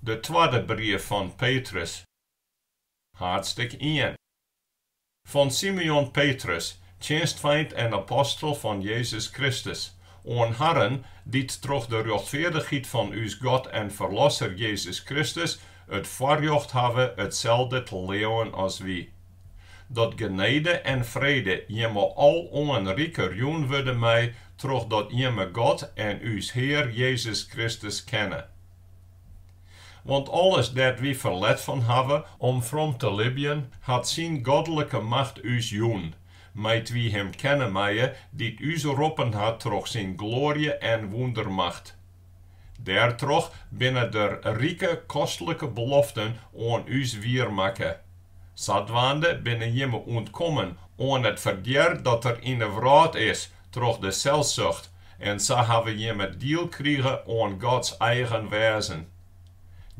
De twadde brief fan Petrus, haadstik ien. Fan Simeon Petrus, tsjinstfeint en apostel fan Jezus Kristus, oan harren dy't troch de rjochtfeardichheid fan ús God en Ferlosser Jezus Kristus it foarrjocht hawwe itselde te leauwen as wy. Dat genede en frede jimme aloan riker jûn wurde mei, trochdat jimme God en ús Hear Jezus Kristus kenne. Want alles dêr't wy ferlet fan hawwe om from te libjen, hat syn godlike macht ús jûn, mei't wy him kenne meie, dy't ús roppen hat troch syn gloarje en wûndermacht. Dêrtroch binne der rike kostlike beloften oan ús wier makke. Sadwaande binne jimme ûntkommen oan it ferdear dat der yn 'e wrâld is troch de selsucht en sa hawwe jimme diel krige oan Gods eigen wêzen.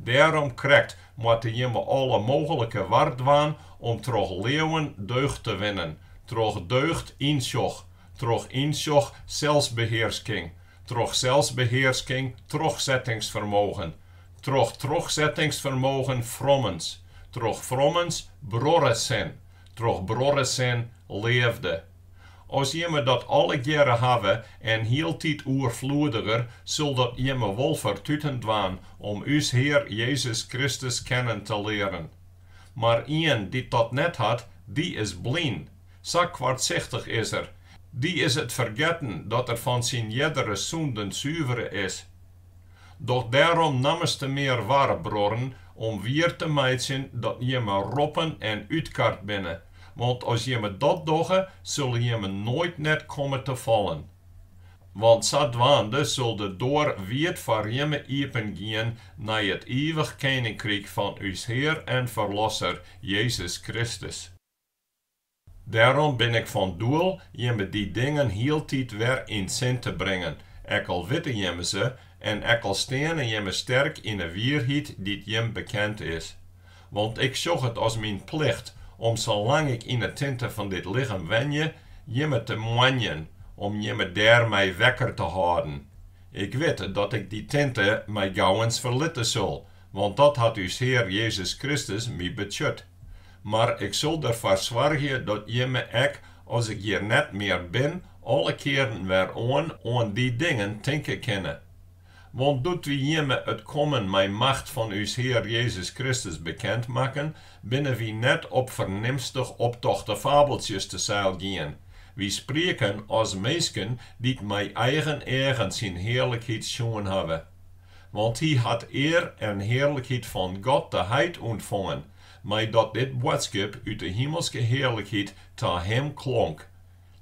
Dêrom krekt moatte jimme alle mooglike war dwaan om troch leauwen deugd te winnen, troch deugd ynsjoch, troch ynsjoch selsbehearsking, troch selsbehearsking trochsettingsfermogen, troch trochsettingsfermogen frommens, troch frommens bruorresin, troch bruorresin leafde. As jimme dat allegearre hawwe en hieltyd oerfloediger, sil dat jimme wol fertuten dwaan om ús Hear Jezus Kristus kennen te learen. Mar ien dy't dat net hat, dy is blyn. Sa koartsichtich is er. Dy is it fergetten dat er fan syn eardere sûnden suvere is. Doch dêrom nammenstemear war bruorren om wier te meitsjen dat jimme roppen en útkard binne, want as jimme dat dogge, sille jimme noait net komme te fallen. Want sadwaande sil de doar wiid foar jimme iepen gean nei it ivich keninkryk fan ús Hear en Ferlosser Jezus Kristus. Dêrom bin ik fan doel jimme dy dingen hieltyd wer yn sin te bringen, ek al witte jimme se en ek al steane jimme sterk yn 'e wierheid dy't jim bekend is. Want ik sjoch it as myn plicht om salang't ik yn 'e tinte fan dit lichem wenje, jimme te moanjen, om jimme dêrmei wekker te hâlden. Ik wit dat ik dy tinte mei gauwens ferlitte sil, want dat hat ús Hear Jezus Kristus my betsjut. Mar ik sil derfoar soargje dat jimme ek as ik hjir net mear bin alle kearen wer oan oan dy dingen tinke kinne. Want doe't wy jimme it kommen mei macht fan ús Hear Jezus Kristus bekend makken, binne wy net op fernimstich optochte fabeltsjes te seil gien, wy sprieken as minsken dy't mei eigen eagen syn hearlikheid sjoen hawwe. Want hy hat ear en hearlikheid fan God de Heit ûntfongen, meidat dit boadskip út de himelske hearlikheid ta him klonk,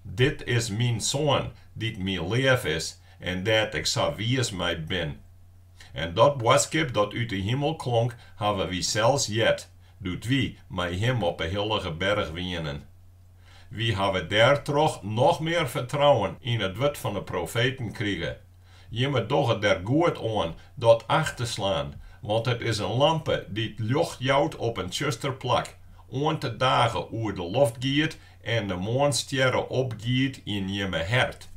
Dit is myn Soan, dy't my leaf is, en dêr't ik sa wiis mei bin. En dat boadskip dat út de himel klonk, hawwe wy sels heard, doe't wy mei him op 'e hillige berch wienen. Wy hawwe dêrtroch noch mear fertrouwen yn it wurd fan 'e profeten krige, Jimme dogge der goed oan dat acht te slaan, want it is in lampe dy't ljocht jout op in tsjuster plak, oant de dage oer de loft giet en de moarnsstjerre opgiet yn jimme hert.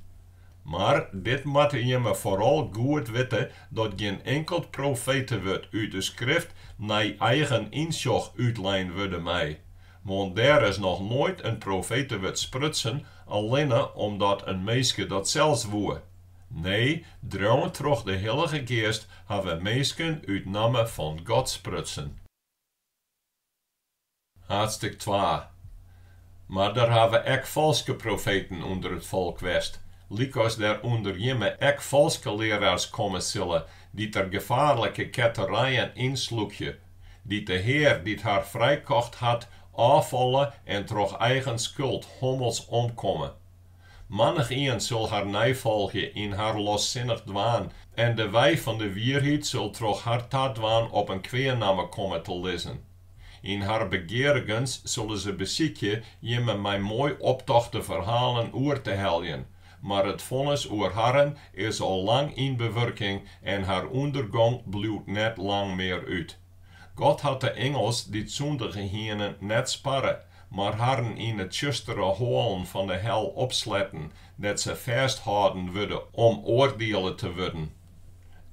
Mar dit moatte jimme foaral goed witte, dat gjin inkeld profetewurd út de Skrift nei eigen ynsjoch útlein wurde mei, Want der is noch noait in profetewurd sprutsen allinne omdat in minske dat sels woe. Nee, dreaun troch de Hillige Geast hawwe minsken út namme fan God sprutsen. Haadstik twa. Mar der hawwe ek falske profeten ûnder it folk west, lykas der ûnder jimme ek falske learaars komme sille, dy't der gefaarlike ketterijen ynslûkje, dy't de Hear dy't har frijkocht hat ôffalle en troch eigen skuld hommels omkomme. Mannichien sil har neifolgje yn har lossinnich dwaan en de wei fan de wierheid sil troch har tadwaan op in kwea namme komme te lizzen. Yn har begearigens sille se besykje jimme mei moai optochte ferhalen oer te heljen, Mar it fonnis oer harren is al lang yn bewurking en har ûndergong bliuwt net lang mear út. God hat de ingels dy't sûndige hiene net sparre, mar harren yn 'e tsjustere hoalen fan 'e hel opsletten, dêr't se fêsthâlden wurde om oardiele te wurden.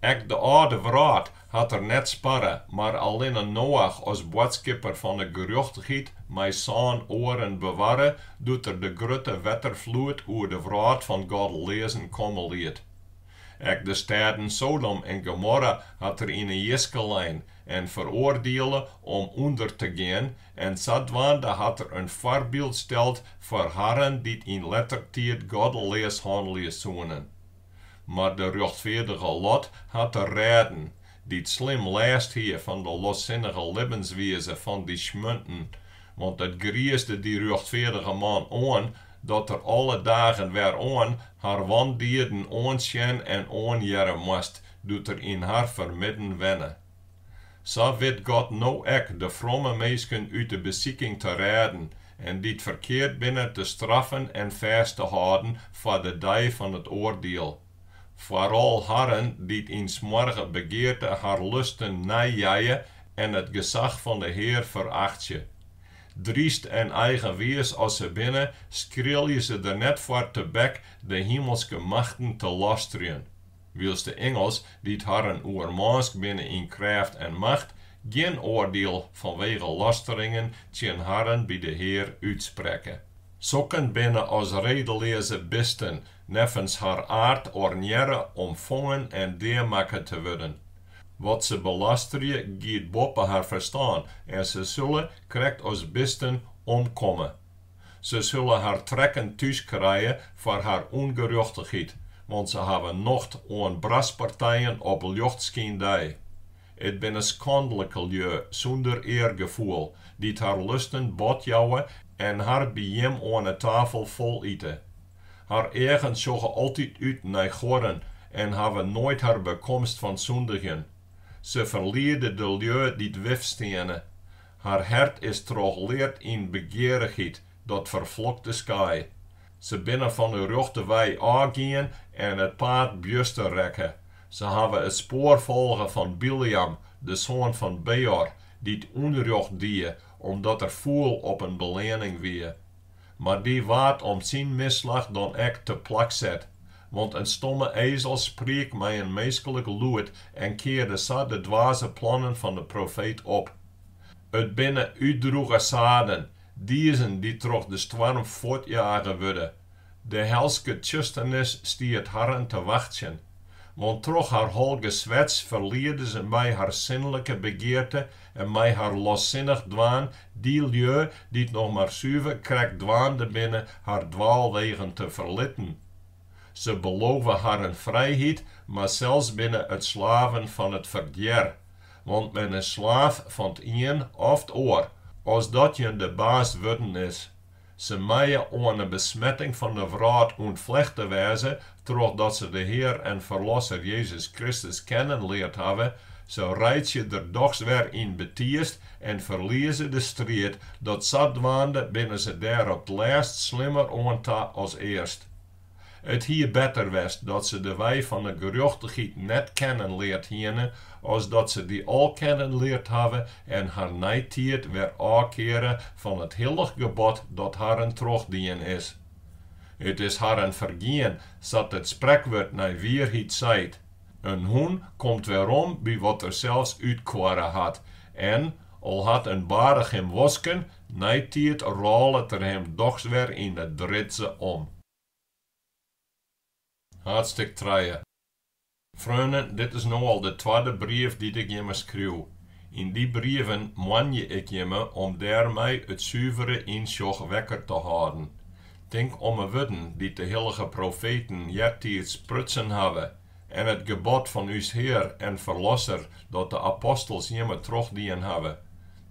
Ek de âlde wrâld hat er net sparre, mar allinne Noach as boadskipper fan 'e gerjochtichheid mei sân oaren bewarre, doe't er de grutte wetterfloed oer de wrâld fan goddeleazen komme liet. Ek de stêden Sodom en Gomorra hat er yn 'e jiske lein en feroardiele om ûnder te gean, en sadwaande hat er in foarbyld steld foar harren dy't yn letter tiid goddeleas hannelje soenen. Mar de rjochtfeardige Lot hat er rêden, dy't slim lêst hie fan de lossinnige libbenswize fan dy smjunten, want it griisde dy rjochtfeardige man oan dat er alle dagen wer oan har wandieden oansjen en oanhearre moast, doe't er yn har fermidden wenne. Sa wit God no ek de fromme minsken út de besiking te rêden en dy't ferkeard binne te straffen en fêst te hâlden foar de dei fan it oardiel, foaral harren dy't yn smoarge begearte har lusten neijeie en it gesach fan de Hear ferachtsje. Dryst en eigenwiis as se binne, skrilje se der net foar tebek de himelske machten te lastrjen. wylst de ingels, dy't harren oermânsk binne yn krêft en macht, gjin oardiel fanwege lasteringen tsjin harren by de Hear útsprekke. Sokken binne as redeleaze bisten, neffens har aard ornearre om fongen en deamakke te wurden. Wat se belasterje giet boppe har ferstân en se sille, krekt as bisten, omkomme. Se sille har trekken thús krije foar har ûngerjochtichheid, want se hawwe nocht oan braspartijen op ljochtskyndei. It binne skandlike lju sûnder eargefoel, dy't har lusten bot jouwe en har by jim oan 'e tafel fol ite. Har eagen sjogge altyd út nei goarren en hawwe noait har bekomst fan sûndigjen. Se ferliede de lju dy't wifsteane. Har hert is trochleard yn begearichheid dat ferflokte skaai. Se binne fan 'e rjochte wei ôfgien en it paad bjuster rekke. Se hawwe it spoar folge fan Bileam, de soan fan Beor, dy't ûnrjocht die omdat er fûl op in beleanning wie. Mar dy waard om syn misslach dan ek te plak set, want in stomme ezel spriek mei in minskelik lûd en kearde sa de dwaze plannen fan de profeet op. It binne útdroege saden, diezen dy't troch de stoarm fuortjage wurde, De helske tsjusternis stiet harren te wachtsjen, want troch har holge swets ferliede se mei har sinlike begearte en mei har lossinnich dwaan dy lju dy't noch mar suver krekt dwaande binne har dwaalwegen te ferlitten. Se belove harren frijheid, mar sels binne it slaven fan it ferdjer, want men is slaaf fan 't ien of 't oar, as dat jin de baas wurden is. Se meie oan 'e besmetting fan de wrâld ûntflechte wêze trochdat se de Hear en Ferlosser Jezus Kristus kennen leard hawwe, se reitsje der dochs wer yn betiist en ferlieze de striid, dat sadwaande binne se der op 't lêst slimmer oan ta as earst. It hie better west dat se de wei fan 'e gerjochtichheid net kennen leard hiene, as dat se dy al kennen leard hawwe en har neitiid wer ôf keare fan it hillich gebod dat harren trochdien is. It is harren fergien, sa't it sprekwurd nei wierheid seit, In hûn komt werom by wat er sels útkoarre hat, en, al hat in barich him wosken, Neitiid rôlet er him dochs wer yn 'e dritze om. Haadstik trije. Freonen, dit is no al de twadde brief dy't ik jimme skriuw. Yn dy brieven moanje ik jimme om dêrmei it suvere ynsjoch wekker te hâlden. Tink om 'e wurden dy't de hillige profeten eartiids sprutsen hawwe en it gebod fan ús Hear en Ferlosser dat de apostels jimme trochdien hawwe.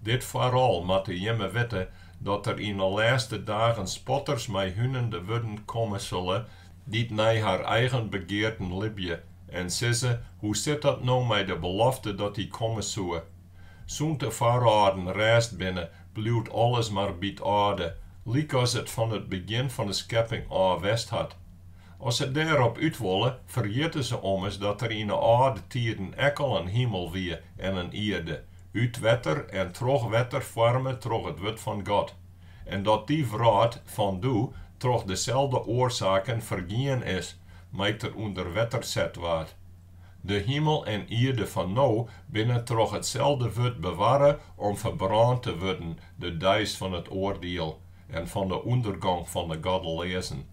Dit foaral moatte jimme witte dat der yn 'e lêste dagen spotters mei hunende wurden komme sille dy't nei har eigen begearten libje en sizze, Hoe sit dat no mei de belofte dat Hy komme soe? Sûnt de foarâlden rêst binne, bliuwt alles mar by't âlde, lykas it fan it begjin fan 'e skepping ôf west hat. As se dêrop út wolle, ferjitte se ommers dat der yn 'e âlde tiden ek al in himel wie en in ierde, út wetter en troch wetter foarme troch it wurd fan God, en dat dy wrâld fan doe troch deselde oarsaken fergien is mei't er ûnder wetter set waard. De himel en ierde fan no binne troch itselde wurd bewarre om ferbrân te wurden de deis fan it oardiel en fan de ûndergong fan de goddeleazen.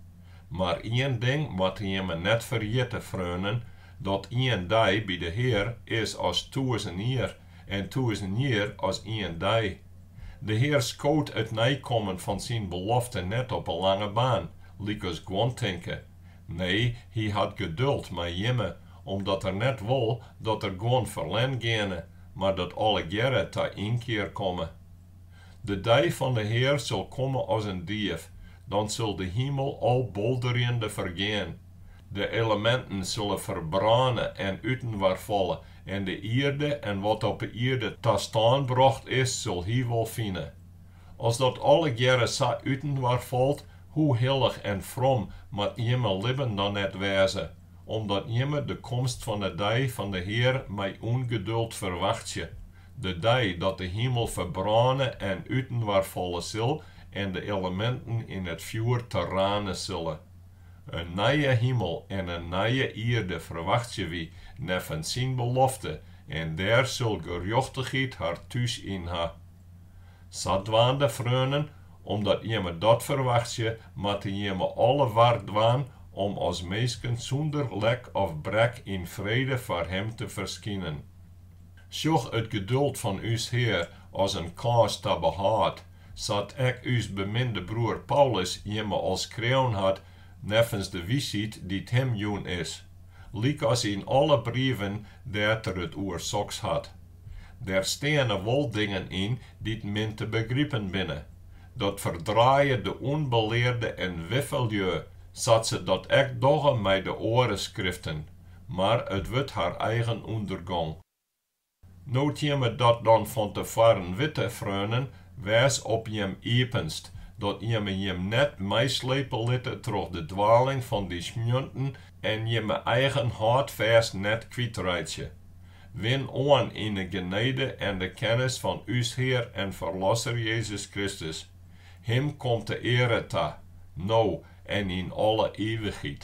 Mar ien ding moatte jimme net ferjitte, freonen, dat ien dei by de Hear is as tûzen jier en tûzen jier as ien dei. De Hear skoot it neikommen fan syn belofte net op 'e lange baan, lykas guon tinke. Nee, hy hat geduld mei jimme, omdat er net wol dat der guon ferlern geane, mar dat allegearre ta ynkear komme. De dei fan de Hear sil komme as in dief, dan sil de himel al bolderjende fergean, de eleminten sille ferbrâne en útinoar falle, en de ierde en wat op 'e ierde ta stân brocht is, sil Hy wol fine. As dat allegearre sa útinoar falt, hoe hillich en from moat jimme libben dan net wêze? omdat jimme de komst fan 'e dei fan de Hear mei ûngeduld ferwachtsje, de dei dat de himel ferbrâne en útinoar falle sil en de eleminten yn it fjoer terrane sille. In nije himel en in nije ierde ferwachtsje wy neffens syn belofte en dêr sil gerjochtichheid har thús yn ha. Sadwaande freonen, omdat jimme dat ferwachtsje, moatte jimme alle war dwaan om as minsken sûnder lek of brek yn frede foar Him te ferskinen. Sjoch it geduld fan ús Hear as in kâns ta behâld, sa't ek ús beminde broer Paulus jimme al skreaun hat neffens de wysheid dy't him jûn is, lykas yn alle brieven dêr't er it oer soks hat. Der steane wol dingen yn dy't min te begripen binne. Dat ferdraaie de ûnbelearde en wiffelju, sa't se dat ek dogge mei de oare skriften, mar it wurdt har eigen ûndergong. No't jimme dat dan fan te foaren witte, freonen, wês op jim iepenst, dat jimme jim net meislepe litte troch de dwaling fan dy smjunten en jimme eigen hâldfêst net kwytreitsje. Win oan yn de genede en de kennis fan ús Hear en Ferlosser Jezus Kristus. Him komt de eare ta, no en yn alle ivichheid.